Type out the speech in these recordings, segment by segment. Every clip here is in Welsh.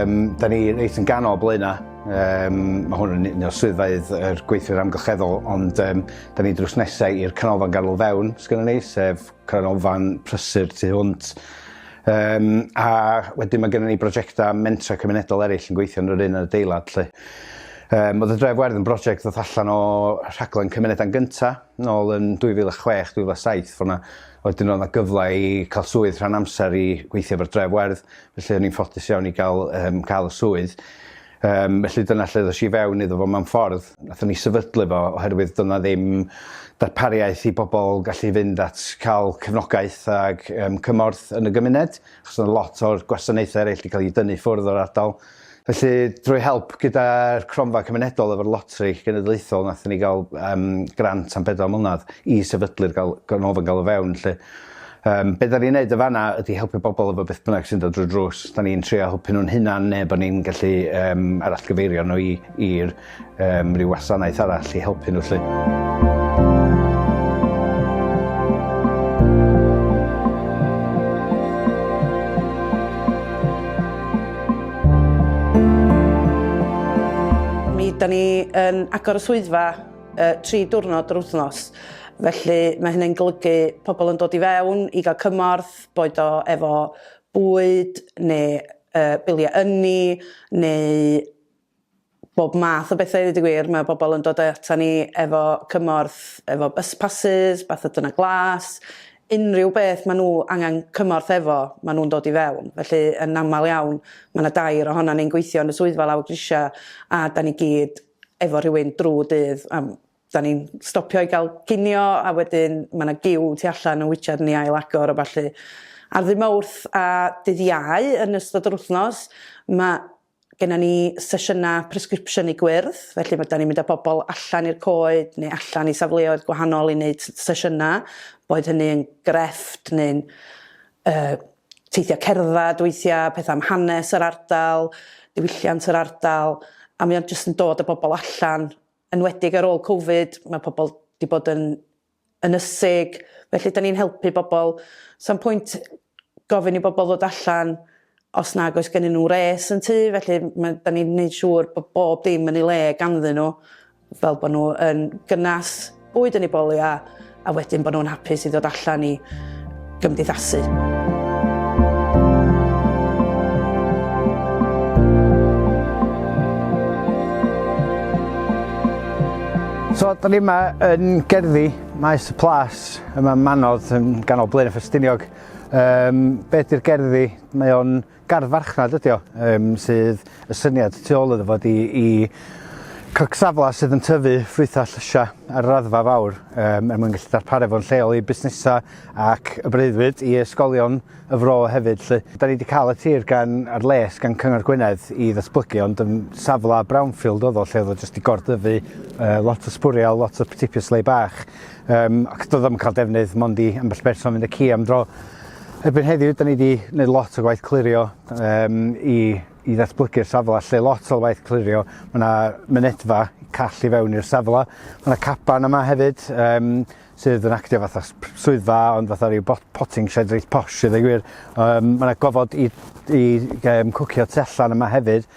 Um, da ni reit yn ganol blaena. Um, mae hwn yn un o'r swyddfeydd yr gweithwyr amgylcheddol, ond um, da ni drws nesau i'r canolfan ganol fewn, sgynny ni, sef Canolfan Prysur tu hwnt. Yym a wedyn mae gennym ni brosiectau mentrau cymunedol eraill yn gweithio yn yr un adeilad 'lly. Yym oedd y Dref Werdd yn brosiect ddoth allan o rhaglen Cymunedau'n Gynta' nôl yn 2006, 2007 fel 'na. A wedyn oedd 'na gyfle i cael swydd rhan amser i weithio efo'r Dref Werdd felly o'n i'n ffodus iawn i gael yym cael y swydd. Yym, felly dyna lle ddoes i fewn iddo fo mewn ffordd. Nathon ni sefydlu fo oherwydd doedd 'na ddim darpariaeth i bobl gallu fynd at cael cefnogaeth ac yym cymorth yn y gymuned, achos oedd lot o'r gwasanaethau eraill 'di cael eu dynnu ffwrdd o'r ardal. Felly, drwy help gyda'r Cronfa Cymunedol efo'r Loteri Genedlaethol, nathon ni gael yym grant am bedwar mlynedd i sefydlu'r gal- ganolfan galw fewn 'lly. Yym, be' 'dan ni'n neud yn fan 'na ydi helpu bobol efo beth bynnag sy'n dod drwy'r drws. 'Dan ni'n trio helpu nhw'n hunan ne' bo' ni'n gallu yym arallgyfeirio nhw i i'r yym ryw wasanaeth arall i helpu nhw 'lly. Mi 'dan ni yn agor y swyddfa uh, tri diwrnod yr wythnos. Felly mae hynny'n golygu pobl yn dod i fewn i gael cymorth, boed o efo bwyd neu uh, biliau ynni neu bob math o bethau wedi gwir. Mae pobl yn dod ata ni efo cymorth, efo bus passes, bath o dyna glas, unrhyw beth maen nhw angen cymorth efo, maen nhw'n dod i fewn. Felly yn aml iawn, mae yna dair ohono ni'n gweithio yn y swyddfa lawr grisiau a da ni gyd efo rhywun drw'r dydd a 'dan ni'n stopio i ga'l cinio a wedyn ma' 'na giw tu allan yn witsiad i ni ail agor a ballu. Ar ddy' Mowrth a dydd Iau yn ystod yr wthnos ma' gennon ni sesiyna presgripsiynu gwyrdd felly ma' 'dan ni'n mynd â bobol allan i'r coed neu allan i safleoedd gwahanol i neud s- sesiyna boed hynny yn grefft neu'n yy teithiau cerdded weithiau, pethau am hanes yr ardal, diwylliant yr ardal, a mae o'n jyst yn dod â bobl allan, enwedig ar ôl Covid, mae pobl 'di bod yn ynysig, felly 'dan ni'n helpu bobl. Sa'm pwynt gofyn i bobl ddod allan os nag oes gennyn nhw res yn tŷ, felly ma'... 'dan ni'n neud siŵr bod bob dim yn ei le ganddyn nhw, Fel bod nhw yn gynnas, bwyd yn eu boliau a wedyn bod nhw'n hapus i ddod allan i gymdeithasu. So, da ni yma yn gerddi Maes y Plas, yma yn Manodd, yn ganol Blaen y Ffestiniog. Um, be ydy'r gerddi? Mae o'n Gardd farchnad ydi o, um, sydd y syniad tu ôl iddo fod i, i cygsafla sydd yn tyfu ffrwythau llysiau ar yr raddfa fawr um, er mwyn gallu darparu fo'n lleol i busnesau ac y breuddwyd i ysgolion y fro hefyd. Lle. Da ni wedi cael y tir gan ar les gan Cyngor Gwynedd i ddatblygu ond yn safle brownfield oedd o lle oedd o jyst i gordyfu uh, lot o sbwriel, lot o ptipius lei bach Um, ac doedd yn cael defnydd mond i ambell berson fynd y ci am dro. Erbyn heddiw, da ni wedi gwneud lot o gwaith clirio um, i, i ddatblygu'r safle, lle lot o waith clirio. Mae yna mynedfa call i fewn i'r safle. Mae yna caban yma hefyd um, sydd yn actio fatha swyddfa, ond fatha rhyw potting shed reit posh, sydd ei gwir. Um, mae yna gofod i, i um, cwcio tu allan yma hefyd,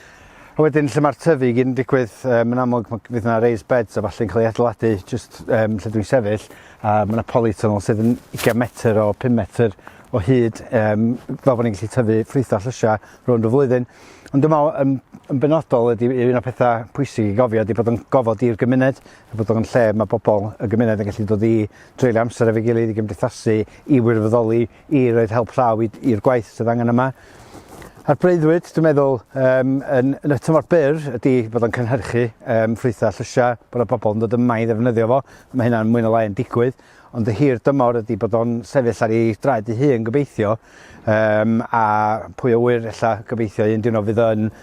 A wedyn lle mae'r tyfu i gyd yn digwydd, um, yn amlwg ma- fydd yna raised beds a falle'n cael ei adeiladu just um, lle dwi'n sefyll, a mae yna polytunnel sydd yn 20 metr o 5 metr o hyd, um, fel bod ni'n gallu tyfu ffrwyth a llysiau rhwng y flwyddyn. Ond dwi'n meddwl, yn, yn benodol, ydy un o'r pethau pwysig i gofio ydy bod yn gofod i'r gymuned, a bod o'n lle mae bobl y gymuned yn gallu dod i dreulio amser efo'i gilydd i gymdeithasu, i wirfoddoli, i roed help llaw i'r gwaith sydd angen yma. A'r breuddwyd, dwi'n meddwl, um, yn, yn y tymor byr ydy bod o'n cynhyrchu um, ffrwythau llysiau, bod y bobl yn dod yma i ddefnyddio fo. Mae hynna'n mwyn o lai yn digwydd ond y hir dymor ydy bod o'n sefyll ar ei draed ei hun gobeithio um, a pwy o wyr ella gobeithio un dyn o fydd yn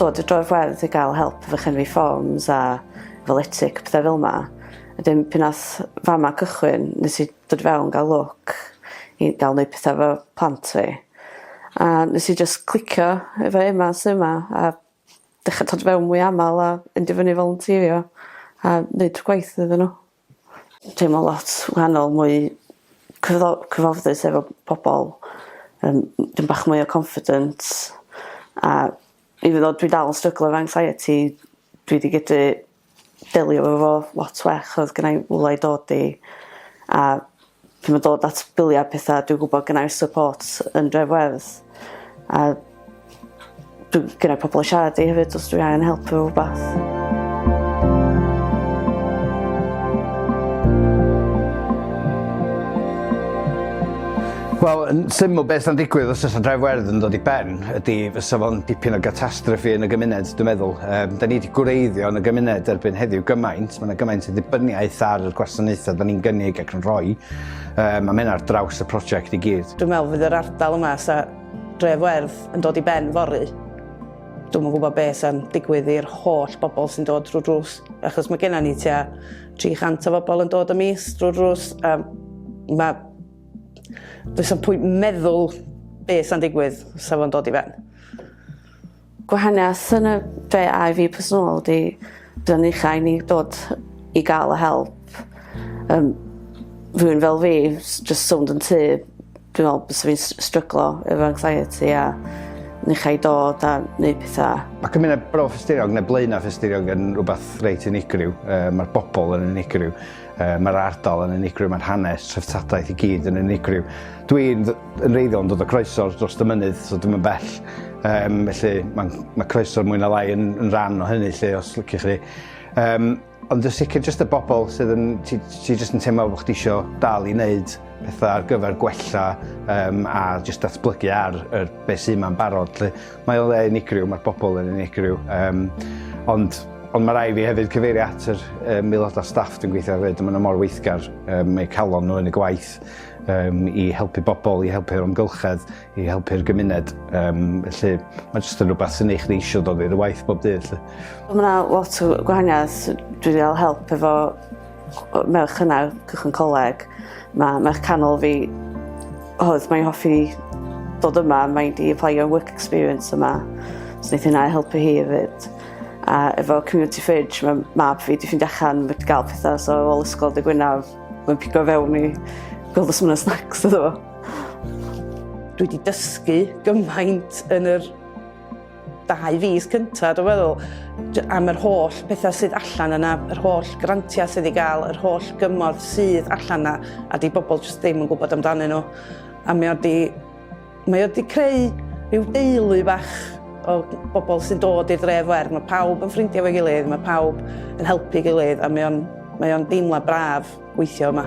dod i droi'r wledd i gael help efo chenwi fforms a efo letic, pethau fel yma. Wedyn pan ath fama cychwyn nes i dod i fewn gael lwc i gael neud petha efo plant fi. A nes i jyst clicio efo Ema sy 'ma a dechra dod i fewn mwy amal a mynd i fyny i volunteerio a neud gwaith iddyn n'w. teimlo lot wahanol mwy cyfo- cyfforddus efo pobol yym m- dipyn bach mwy o confident a even though dwi dal yn stryglo efo anxiety dwi 'di gallu delio efo fo lot well odd gennai rywle i dod i a Pan mae'n dod at biliau a petha, dwi'n gwybod gen i'r support yn Dref Werdd. A dwi'n gyda pobl i siarad i hefyd os dwi'n angen help efo rhywbeth. Wel, yn syml beth sy'n digwydd os oes dref werdd yn dod i ben ydy fysa fo'n dipyn o gatastrofi yn y gymuned, dwi'n meddwl. Um, da ni wedi gwreiddio yn y gymuned erbyn heddiw gymaint Mae yna gymaint o ddibyniaeth ar y gwasanaethau da ni'n gynnig ac yn rhoi. Um, a mae ar draws y prosiect i gyd. Dwi'n meddwl fydd yr ardal yma sa dref werdd yn dod i ben fory. Dwi'n yn gwybod beth sy'n digwydd i'r holl bobl sy'n dod drwy drws. Achos mae gennym ni tua 300 o bobl yn dod y mis drwy drws. A mae... Dwi'n sy'n pwynt meddwl beth sy'n digwydd sa fo'n dod i ben. Gwahaniaeth yn y dre a i fi personol di dyna ni chai ni dod i gael y help um, rhywun fel fi just sownd yn tu dwi'n meddwl bys fi'n stryglo efo anxiety a ni chai dod a neud pethau. Mae cymuned Bro Ffestiriog neu Blaenau Ffestiriog yn rhywbeth reit unigryw. Uh, Mae'r bobl yn unigryw. Uh, Mae'r ardal yn unigryw. Mae'n hanes, treftadaeth i gyd yn unigryw. Dwi'n Yn reiddiol yn dod o croeso dros y mynydd, so dim yn bell. Um, felly mae ma croeso mwy na lai yn, yn rhan o hynny lle os lyci chi. Um, ond y sicr jyst y bobl sydd yn, ti, ti jyst yn teimlo bod chdi eisiau dal i wneud pethau ar gyfer gwella um, a jyst datblygu ar er, beth sy'n ma'n barod. Lle, mae o'n le unigryw, mae'r bobl yn unigryw. Um, ond ond mae rai fi hefyd cyfeirio at yr um, aelodau staff dwi'n gweithio hefyd, maen nhw mor weithgar, um, mae calon nhw yn y gwaith, um, i helpu bobl, i helpu'r amgylchedd, i helpu'r gymuned. Um, felly, mae jyst yn rhywbeth sy'n eich neisio dod i'r waith bob dydd. Felly. Mae yna lot o gwahaniaeth. Dwi wedi cael help efo merch yna, cychwyn coleg. Mae merch canol fi, oedd mae'n hoffi dod yma, mae'n di apply your work experience yma. So wnaeth hynna helpu hi hefyd. A efo Community Fridge, mae mab fi di ffindio allan, wedi gael pethau so ôl ysgol dy Gwynaf, Mae'n pigo fewn i gweld os yna snacks iddo fo. Dwi wedi dysgu gymaint yn yr dau fus cyntaf, dwi'n meddwl, am yr holl pethau sydd allan yna, yr holl grantiau sydd wedi cael, yr holl gymorth sydd allan yna, a di bobl jyst ddim yn gwybod amdanyn nhw. A mi oedd di Mae o wedi creu rhyw deulu fach o bobl sy'n dod i'r dref fer. Mae pawb yn ffrindiau efo'i gilydd, mae pawb yn helpu gilydd a mae o'n mae o'n deimlad braf weithio yma.